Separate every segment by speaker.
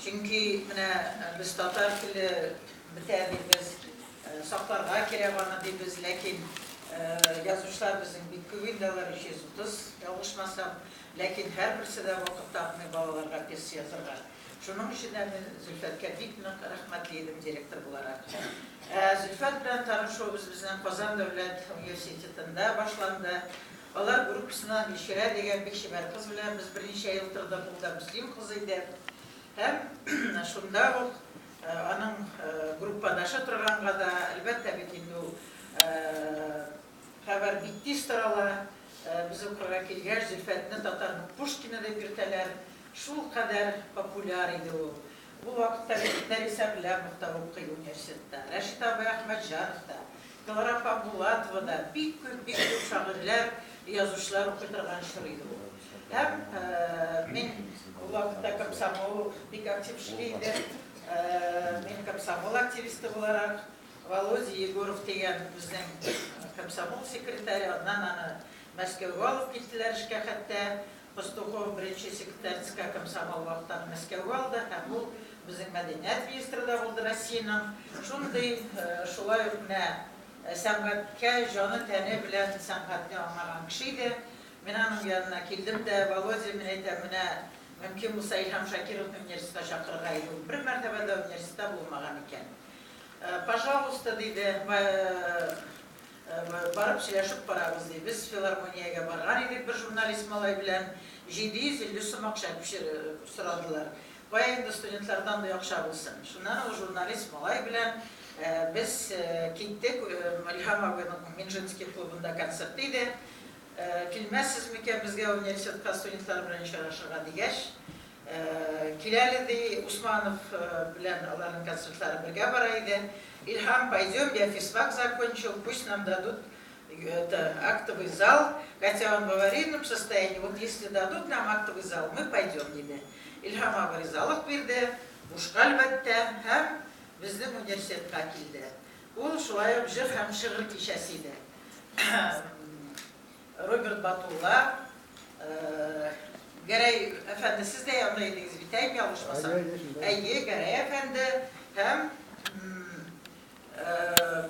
Speaker 1: Чөнки менә без татар теле бетә дибез, сакларга кирәк аны дибез, ләкин язучылар безнең бик күп инде алар, 330, ялгышмасам, ләкин һәрберсе дә вакыт тапмый балаларга пьеса язырга. Шуның өчен дә мин Зөлфәткә бик нык рәхмәтле идем директор буларак. Ә Зөлфәт белән танышуыбыз безнең Казан дәүләт университетында башланды. Алар группасына Мишәрә дигән бик чибәр кыз белән без берничә ел тордык, ул да мөслим кызы иде. Һәм шунда ук аның группадашы торганга да, әлбәттә бит инде ул хәбәр бик тиз тарала, без укырга килгәч, Зөлфәтне татарның Пушкины дип йөртәләр, шулкадәр популяр иде ул. Бу вакытта бит Нәрисә белән урта укый университетта, Рәшит абый Әхмәтҗанов та, Клара Хакбулатова да бик күп, бик күп шагыйрьләр, язучылар укый торган чор иде ул. Һәм мин ул вакытта комсомол бик актив эшли иде. Мин комсомол активисты буларак, Володя Егоров дигән безнең комсомол секретаре, аннан аны Мәскәүгә алып киттеләр эшкә хәтта, Пастухов беренче секретарьскә комсомол вахтаны Мәскәүгә алды һәм ул безнең мәдәният министры да булды Россиянең. Шундый, шулай ук менә сәнгатькә җаны-тәне белән сәнгатьне аңлаган кеше иде. Мин аның янына килдем дә, Володя, мин әйтәм, менә мөмкин булса Илһам Шакировны университетка чакырырга иде, ул бер мәртәбә дә университетта булмаган икән. Пожалуйста, диде. Барып сөйләшеп карагыз, ди. Без филармониягә барган идек, бер журналист малай белән 750 сум акча сорадылар. Кая инде студентлардан бу акча булсын. Шуннан ул журналист малай белән без киттек, Илһам абыйның Минжинский клубында концерты иде. Килмәссез микән безгә университетка студентлар белән очрашырга, дигәч, Кил әле, ди, Усманов белән аларның концертлары бергә бара иде. Илһам, пойдем, я физфак закончил, пусть нам дадут это актовый зал, хотя он в аварийном состоянии, вот если дадут нам актовый зал, мы пойдем, диде. Илһам абый ризалык бирде, бушка әлбәттә, һәм безнең университетка килде. Ул шулай ук җыр һәм шигырь кичәсе иде. Роберт Батулла, Гәрәй әфәнде, сез дә янда идегез бит, әй, ялгышмасам? Әйе, Гәрәй әфәнде һәм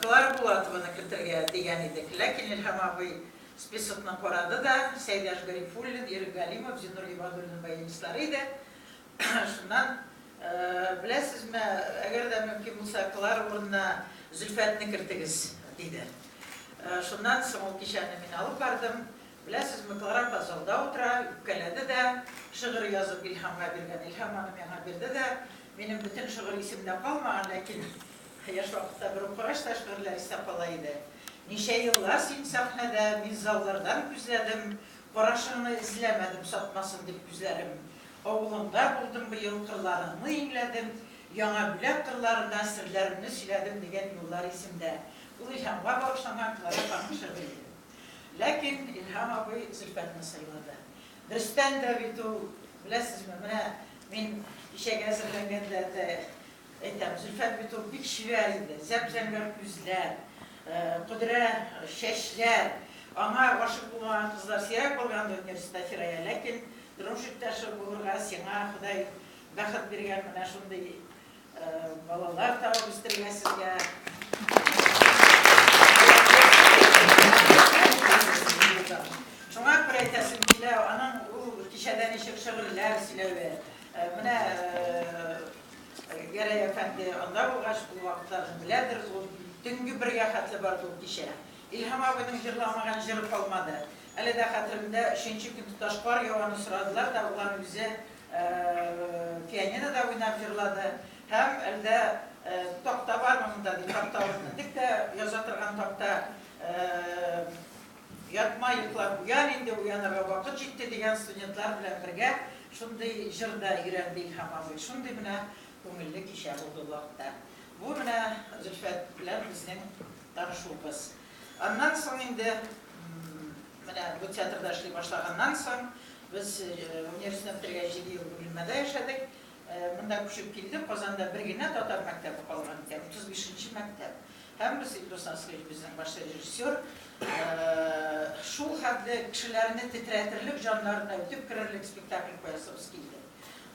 Speaker 1: Клара Булатованы кертергә дигән идек, ләкин Илһам абый списокны карады да, Сәйдәш Гарифуллин, Ирек Галимов, Зиннур Гыйбадуллин баянистлары иде, Шуннан, Беләсезме, әгәр дә мөмкин булса, Клара урынына Зөлфәтне кертегез, диде. Шуннан соң ул кичәне мин алып бардым. Беләсезме, Клара апа залда утыра, үпкәләде дә, шигырь язып Илһамга биргән. Илһам аны миңа бирде дә. Минем бөтен шигырь исемдә калмаган, ләкин яшь вакытта бер укыгач та шигырьләр истә кала иде. Ничә еллар син сәхнәдә, мин заллардан күзләдем, Карашыңны эзләмәдем сатмасын дип күзләрем. Авылыңда булдым быел, кырларыңны иңләдем, Яңа Бүләк кырларына серләремне сөйләдем дигән юллар исемдә. Ул Илһамга багышланган Клара ханым шигыре иде. Ләкин Илһам абый Зөлфәтне сайлады. Берстән дә бит ул, беләсезме, менә мин кичәгә әзерләнгәндә дә, Әйтәм, Зөлфәт бит ул бик чибәр инде, зәп-зәңгәр күзләр, пөдрә чәчләр. Аңа гашыйк булмаган кызлар сирәк булгандыр инде, Резеда Фирая, ләкин тормыш иптәше булырга сиңа Ходай бәхет биргән, менә шундый балалар табып үстергә сезгә. Шуңа күрә әйтәсем килә, аның ул кичәдә ничек шигырьләр сөйләве, менә Гәрәй әфәнде анда булгач, ул вакытларны беләдер ул. Төнге бергә хәтле барды ул кичә. Илһам абыйның җырламаган җыры калмады. Әле дә хәтеремдә, өченче көн тоташ кар яваны сорадылар да, ул аны үзе пианинода уйнап җырлады һәм Әлдә такта бармы монда, ди, такта алып мендек тә яза торган такта Ятма, йоклап уян инде, уянырга вакыт җитте, дигән студентлар белән бергә шундый җыр да өйрәнде Илһам абый. Шундый менә күңелле кичә булды ул вакытта. Бу менә Зөлфәт белән безнең танышуыбыз. Аннан соң инде менә бу театрда эшли башлаганнан соң без университетны бетергәч җиде ел Бүленмәдә яшәдек. Монда күчеп килдек, Казанда бер генә татар мәктәбе калган икән, 35 нче мәктәп. Һәммәсе, Илдус Асыйф, безнең баш режиссер, шул хәтле кешеләрне тетрәтерлек, җаннарына үтеп керерлек спектакль куясыбыз килде.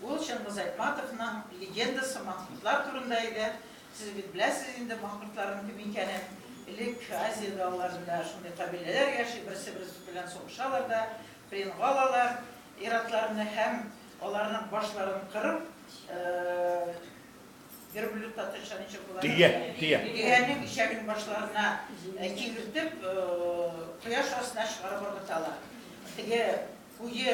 Speaker 1: Ул Чыңгыз Айтматовның легендасы Махмутлар турында иде. Сез бит беләсез инде махмутларның кем икәнен. Элек Азия далаларында шундый кабиләләр яши, берсе-берсе белән сугышалар да, пленга алалар ир-атларны һәм Аларның башларын кырып, верблюд татарча ничек була? Төя, төя. Төянең ишәген башларына кигертеп, кояш астына чыгарып ыргыталар. Теге куе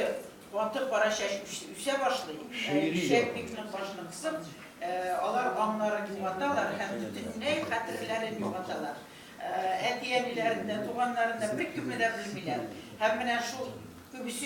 Speaker 1: каты кара чәч үсә башлый. Ишәк бик нык башны кысып, алар аңнарын югаталар һәм бөтенләй хәтерләрен югаталар. Әти-әниләрен дә, туганнарын да беркемне дә белмиләр. Һәм менә шул күбесе